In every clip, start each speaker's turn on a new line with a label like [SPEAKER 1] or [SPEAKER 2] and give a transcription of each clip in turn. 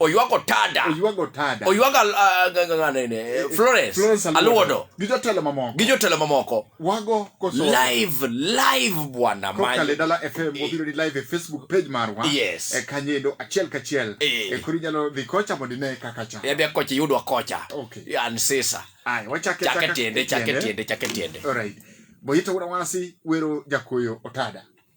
[SPEAKER 1] oywago tada
[SPEAKER 2] oywago tada oywago uh, florence aluodo gi jotelo mamoko gi jotelo mamoko wago koso
[SPEAKER 1] live live
[SPEAKER 2] bwana man kokale dala fm
[SPEAKER 1] e. wabiro ni live e facebook page marwa yes e kanyedo
[SPEAKER 2] achiel
[SPEAKER 1] kachiel e, e kuri nyalo dhi kocha mondo ine kaka cha yabe kocha yudwa
[SPEAKER 2] kocha okay yan sisa ai wachake chake
[SPEAKER 1] tiende chake tiende chake
[SPEAKER 2] tiende alright
[SPEAKER 1] boyito wasi wero jakoyo otada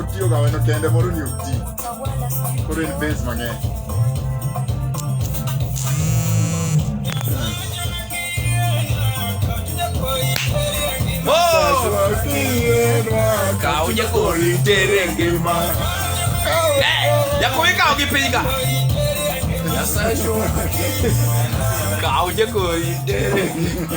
[SPEAKER 1] otiyo ga weno kende moro ni oti koro en base mang'eny
[SPEAKER 2] Kawo jakori tere ngima. Eh, Jakori kawo gi piny ka. Kawo jakori tere ngima.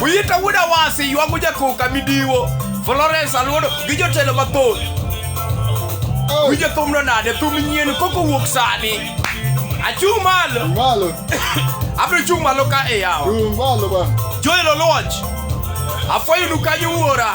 [SPEAKER 2] Uyita wuod Awasi ywago jakoka midiwo Florence Aluodo gi jotelo mathoth. Winjo thumno nade? Thum nyien koko wuok sani. Achung' malo. Malo. Abiro chung' malo ka e yawa. Chung' malo ba.
[SPEAKER 1] Joel Oluoch.
[SPEAKER 2] Afwayonu kanyo wuora.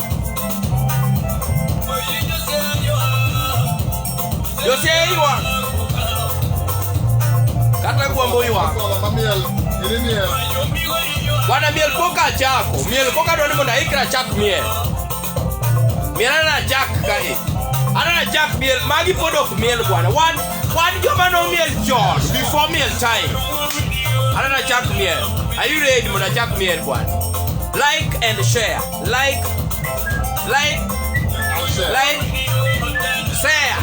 [SPEAKER 2] Joseiwa kata gwamboiwa wana miel koka chako miel koka dwani mondo aikra chak miel miel ana chak kae anana chak miel magi pod ok miel bwana wan wan joma nomiel chon before miel time anana chak miel are you ready mondo achak miel bwana like and share like like like share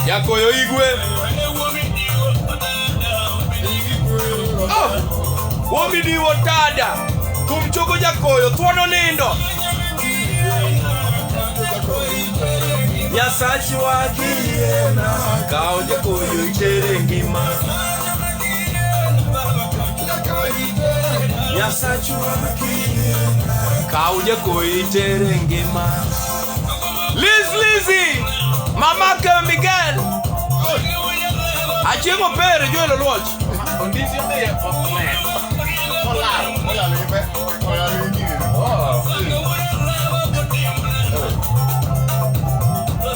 [SPEAKER 2] yakoyo igwe oh, womidiwo tada kumchoko jakoyo thuono nindo nyasachi wakiyiena kawo jakoyo itere ngima Kau jagoyi tere ngima Liz Lizzy Mama ke Miguel Achiemo pere jwe lo luoch Ondisi be okme Olal Olal ibe Olal ibe Oh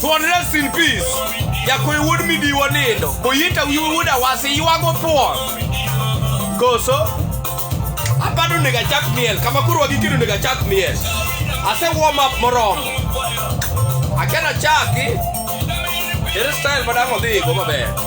[SPEAKER 2] Thuon rest in peace. Yakoy wuod midiwo nindo. Boyita wiu wuod awasi ywago thuon. Koso? Abado onego achak miel. Kama koro wagikino onego achak miel. Ase warm up moromo. Akena chaki. Ere style madang' odhigo maber.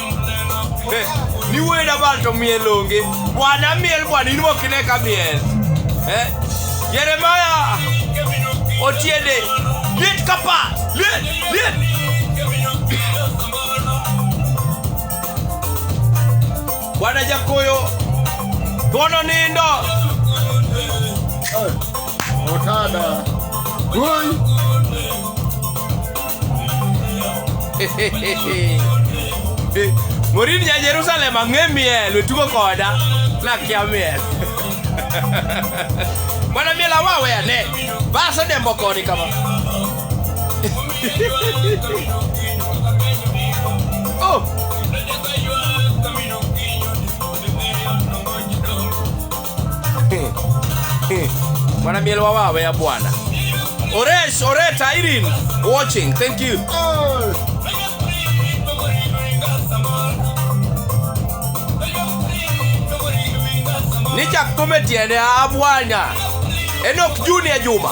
[SPEAKER 2] Eh, ni wena bal to miel onge bwana miel bwana in mokine ka miel eh? yeremaya otiende liet kapa liet liet bwana jakoyo gono nindo
[SPEAKER 1] Otada. Oi.
[SPEAKER 2] Morin ja Jerusalem ang'e miel wetugo koda nakia miel mwana miel awawe ane base dembo koni kama oh. Bwana miel wa wawe ya bwana. Oresh, Oreta, Irene watching. Thank you. Nicha kumetiende abwanya. Enoch Junior Juma.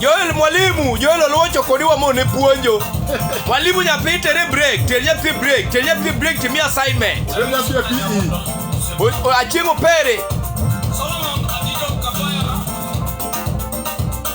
[SPEAKER 2] Joel mwalimu, Joel Oluocho kodi wamone puonjo. Mwalimu nyathi tere break, ter nyathi break, ter nyathi break timi assignment. Tere nyathi e PE. Achieng' opere.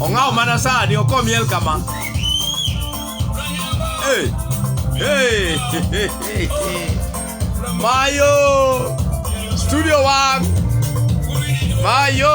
[SPEAKER 2] Ongao mana sani oko miel kama. Hey, hey, hey, hey, hey. Mayo studio one. Mayo.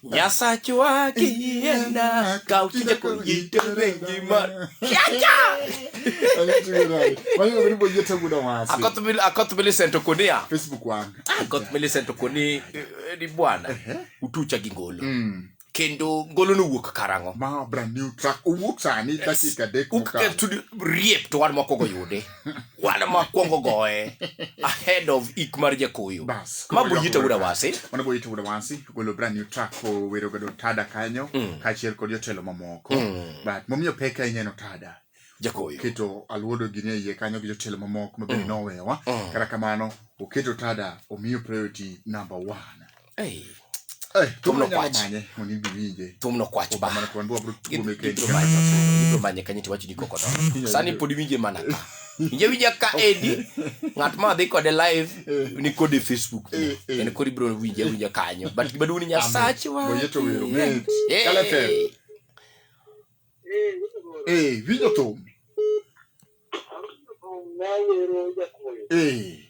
[SPEAKER 2] Nyasachwa kienda ka uchinje kuyite rengi mar. Kiacha! Akot mil akot mil sento kuni ya. Facebook wan.
[SPEAKER 1] Akot mil sento
[SPEAKER 2] kuni eh, eh, ni bwana. Utucha gi ngolo. Mm. Kendo ngolo no wuok karango. Ma brand new track.
[SPEAKER 1] Uwuok sani dakika dek. Uke tudi
[SPEAKER 2] riep to wan moko go yude. wan makwongo goye ahead of ik mar jakoyo Bas. ma buyita wuda wasi Mano boyi to wuda wasi
[SPEAKER 1] golo brand new track ko wero godo tada kanyo Mm. kaachiel kod jotelo mamoko. Mm. But momiyo pek ahinya en otada. jakoyo Keto
[SPEAKER 2] aluodo
[SPEAKER 1] gini e iye kanyo gi jotelo mamoko mabende Mm. nowewa. Mm. Kata kamano oketo tada omiyo priority number one. Hey. Hey, thum nokwach thum
[SPEAKER 2] nokwach
[SPEAKER 1] ba ibiro manye
[SPEAKER 2] kanyo tiwacho ni koko don sani pod iwinje mana ka inje winja ka edi ng'at ma dhi kode live eh. ni kode facebook eh, eh. en kod ibiro winje winja kanyo but gima duong' ni nyasach wa
[SPEAKER 1] winjo thum Hey.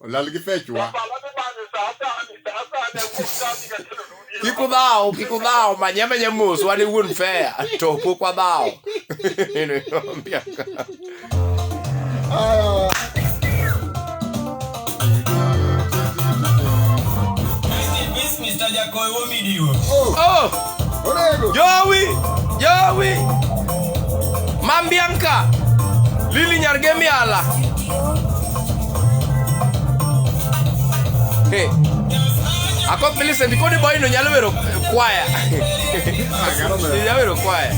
[SPEAKER 1] Olal gi fechwa.
[SPEAKER 2] Kik udhaw, kik udhaw, manye amanya mos, wan e wuon fea, to pok wadhaw.
[SPEAKER 3] Mr. Jakoy, what me do? Oh! Jowi,
[SPEAKER 2] Jowi, Mambianka, Lili Nyargemiala. Hey. Ako Millicent kodi boy no nyalo wero kwaya. Nyalo wero kwaya.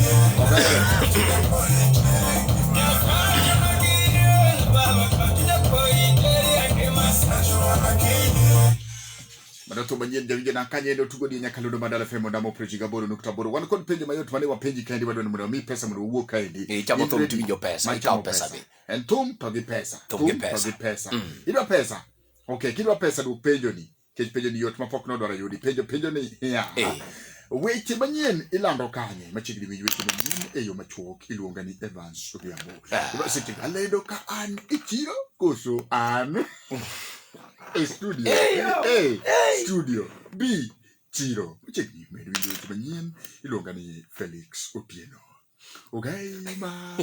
[SPEAKER 1] Mano thum manyien jawinjo na kanye ne otugo ni nyaka lodo madala femo ndamo preji gaboro nukta boro. Wan kod penjo mayot mane wapenji kaendi wadwa ni mondo wami pesa mondo wawuo kaendi. Eh, chamo thum tiwinjo pesa,
[SPEAKER 2] Ma ikawo chamo pesa be. En thum to gi
[SPEAKER 1] pesa. Thum gi pesa. to gi pesa. Mm. Idwa pesa. Okay, kidwa pesa dwok penjo ni. Kech penjo ni yot mapok nodwaro yudi. Penjo penjo ni. Yeah. Eh. Weche manyien ilando kanye machiegni winj weche manyien e yo machuok iluonga ni Evans Odhiambo. Ah. Seche alendo ka an e chiro koso an A studio. A studio. B chiro. Chiegni medo winjo weche manyien iluonga ni Felix Otieno. Ogai mar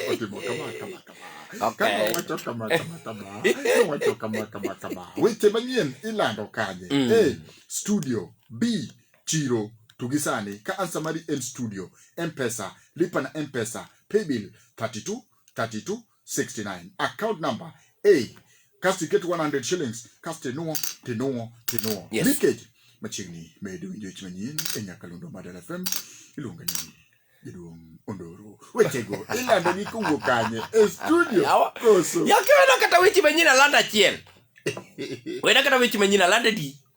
[SPEAKER 1] otimo kama kama kama. Kama wacho kama kama kama. Kama wacho kama kama kama. Weche manyien ilando kanye? Mm. A studio. B chiro. To gi sani ka ansa mari en studio, M-Pesa, lipa na M-Pesa, paybill 32 32 69 account number a kasto iket 100 shillings kasto inuo tinuo tinuo
[SPEAKER 2] Yes. leakage
[SPEAKER 1] machiegni medo winjo weche manyien e nyakalondo madala fm iluonga ni jaduong' ondoro wechego ilandogi kowuok kanye e studio Yawa. koso yakiwena kata weche
[SPEAKER 2] manyien alanda achiel wena kata weche manyien alanda di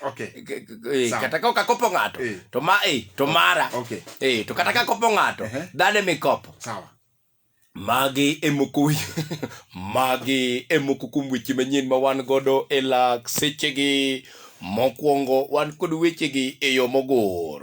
[SPEAKER 1] Okay. K- k- eh, Sawa. kata ka okakopo
[SPEAKER 2] ng'ato Eh. to ma eh, to mara Okay. eh, to kata ka
[SPEAKER 1] kopo ng'ato
[SPEAKER 2] Ehe. dhane mikopo Sawa.
[SPEAKER 1] magi
[SPEAKER 2] emoko magi emoko kuom weche manyien ma wan godo e lak sechegi mokwongo wan kod wechegi e yo mogor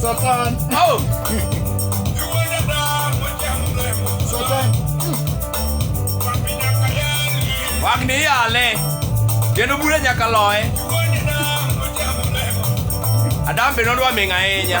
[SPEAKER 1] Satan. Oh. Satan.
[SPEAKER 2] Wang ni yale. Kendo bure nyaka loye. Adam be nodwa ming' ahinya.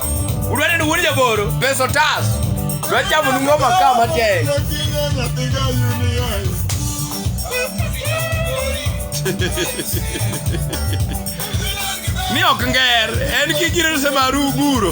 [SPEAKER 2] Udwani ni wuod jaboro. Pesa otas. Dwa chamo ni ngoma ka matek. Ni ok nger, en gi gire semaru guro.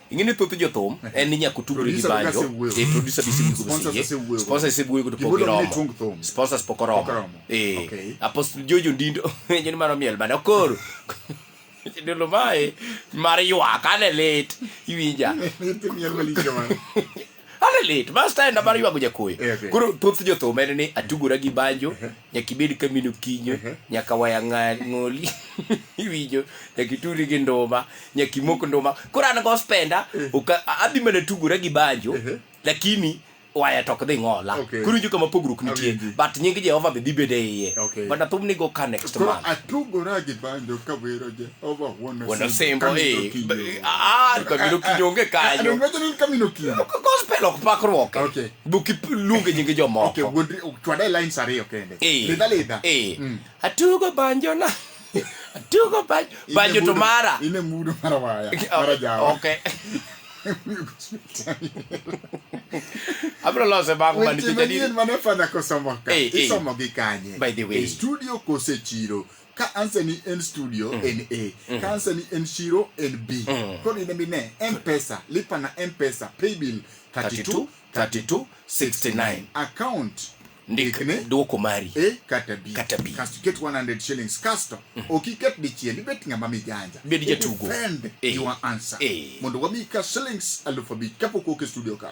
[SPEAKER 1] ingene thoth jothum
[SPEAKER 2] en ni nyaka otug gi banjo e producer bi sibu kubo siye sponsor sibu yugo po gi romo sponsors poko romo eh apostle jojo ndindo nyen maro miel bana koro ndolo mae mar ywak ane lit iwinja
[SPEAKER 1] Ane lit,
[SPEAKER 2] bas ta enda mar ywago jakoyo. Eh, okay. Koro thoth jothum en ni atugora gi banjo, nyaka ibed kamino kinyo, nyaka waya nga- ng'oli, iwinjo, nyaka ituri gi nduma, nyaka imok nduma. Koro an gospenda, oka- a- adhi mana tugora gi banjo, lakini waya to ok dhi ng'ola. Okay. Koro injo kama pogruok nitie, Awinji. but nying Jehova be dhi bedo e iye. Okay. But athum ni go ka next Koro month. atugora gi banjo
[SPEAKER 1] ka wero je. wanasembo
[SPEAKER 2] kabino kiny onge kanyogospel
[SPEAKER 1] ok pakruok
[SPEAKER 2] duk iluonge nyinge
[SPEAKER 1] jomokoatugo
[SPEAKER 2] banjona atugo banjo to mara abiro lose bang' man picha ni mane fadha
[SPEAKER 1] kosomo ka isomo gi kanye by the way e studio
[SPEAKER 2] kose chiro
[SPEAKER 1] ka ansa ni en studio mm. en A mm. ka ansa ni en shiro en B mm. kodi ne bine M-Pesa lipa na M-Pesa pay bill 32 32 69 account ndikne
[SPEAKER 2] dwoko mari e kata bi kata
[SPEAKER 1] bi kasto ket 100 shillings kasto mm. okiket dichiel ibet ng'ama mijanja bed jatugo defend
[SPEAKER 2] e. your
[SPEAKER 1] answer e. mondo wami ka shillings alufu abich kapok wuok e studio ka